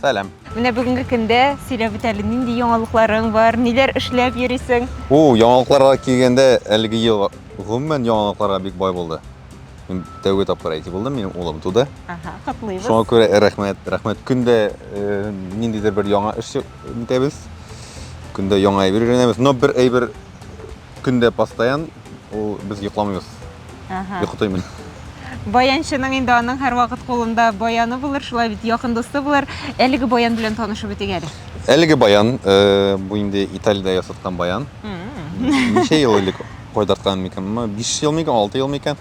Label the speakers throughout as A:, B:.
A: Сәлам. Менә бүгенге
B: көндә сөйләп үт әле, нинди яңалыкларың бар, ниләр эшләп йөрисең? У, яңалыкларга
A: килгәндә, әлеге ел гомумән яңалыкларга бик бай булды. Мин тәүге тапкыр әти булдым, минем улым туды. Ага, котлыйбыз. Шуңа
B: күрә рәхмәт,
A: рәхмәт. Көндә э, ниндидер бер яңа эш итәбез. Көндә яңа әйбер өйрәнәбез. Но бер әйбер Көн дә постоян ул без йокламыйбыз. Ага. Йокытыйм мин.
B: Баянчының инде аның һәрвакыт кулында баяны булыр, шулай бит якын дусты булыр. Әлеге баян белән танышып үтик әле. Әлеге баян,
A: э, бу инде Италиядә ясаткан баян. М. Ничә ел элек кайдарткан микән? Моны 5 ел микән, 6 ел микән?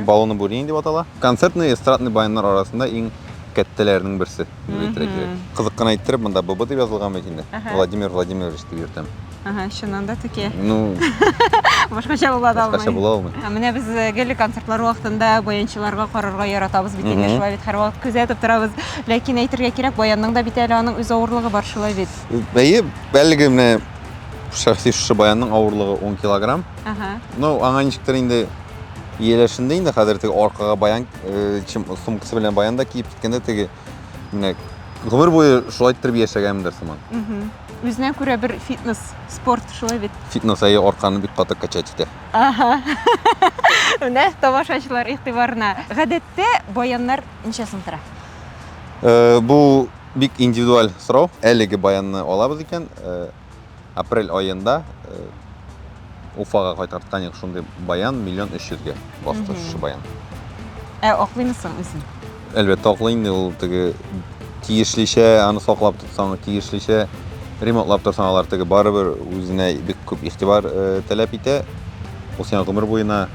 A: Балоны Бурень дип атала. Концертный эстрадный баяннар арасында иң кәттәләренең берсе, дип әйтергә кирәк. Кызык кына иттереп, монда ББ дип язылган бит инде. Владимир Владимирович дип йөртәм. Ага, чыннан да
B: текә. Ну,
A: Башкача
B: була да алмый. Башкача була алмый. Ә менә без
A: э, гел
B: концертлар вакытында баянчыларга карарга яратабыз бит инде, шулай бит һәрвакыт күзәтеп торабыз. Ләкин әйтергә кирәк, баянның да бит әле аның үз авырлыгы бар шулай бит. Әйе,
A: әлеге менә шәхси шушы баянның авырлыгы 10 килограмм. Ага. Ну, аңа ничектер инде Ияләшенде инде хәзер теге аркага баян сумкасы белән баян да киеп киткәндә теге менә гомер буе шулай иттереп яшәгәнмендер сыман. Үзенә
B: күрә бер фитнес, спорт шулай бит. Фитнес әйе арканы
A: бик каты качать итә. Ага.
B: Менә тамашачылар игътибарына. Гадәттә баяннар ничә сум тора? Э,
A: бу бик индивидуаль сорау. Әлеге баянны алабыз икән, э, Апрель аенда Уфага кайткан Таник шундый баян миллион өч йөзгә басты шушы баян. Ә аклыймы
B: соң үзен? Әлбәттә аклый инде
A: ул теге тиешлечә аны саклап тотсаң, тиешлечә ремонтлап торсаң алар теге барыбер үзенә бик күп игътибар таләп итә. Ул сиңа гомер буена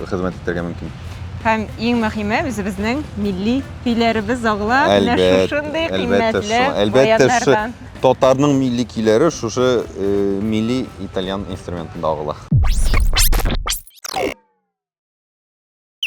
A: хезмәт итәргә мөмкин. Һәм иң
B: мөһиме, үзебезнең милли көйләребез агыла менә шушындый кыйммәтле баяннардан. Әлбәттә,
A: Татарның милли көйләре шушы милли итальян инструментында агыла.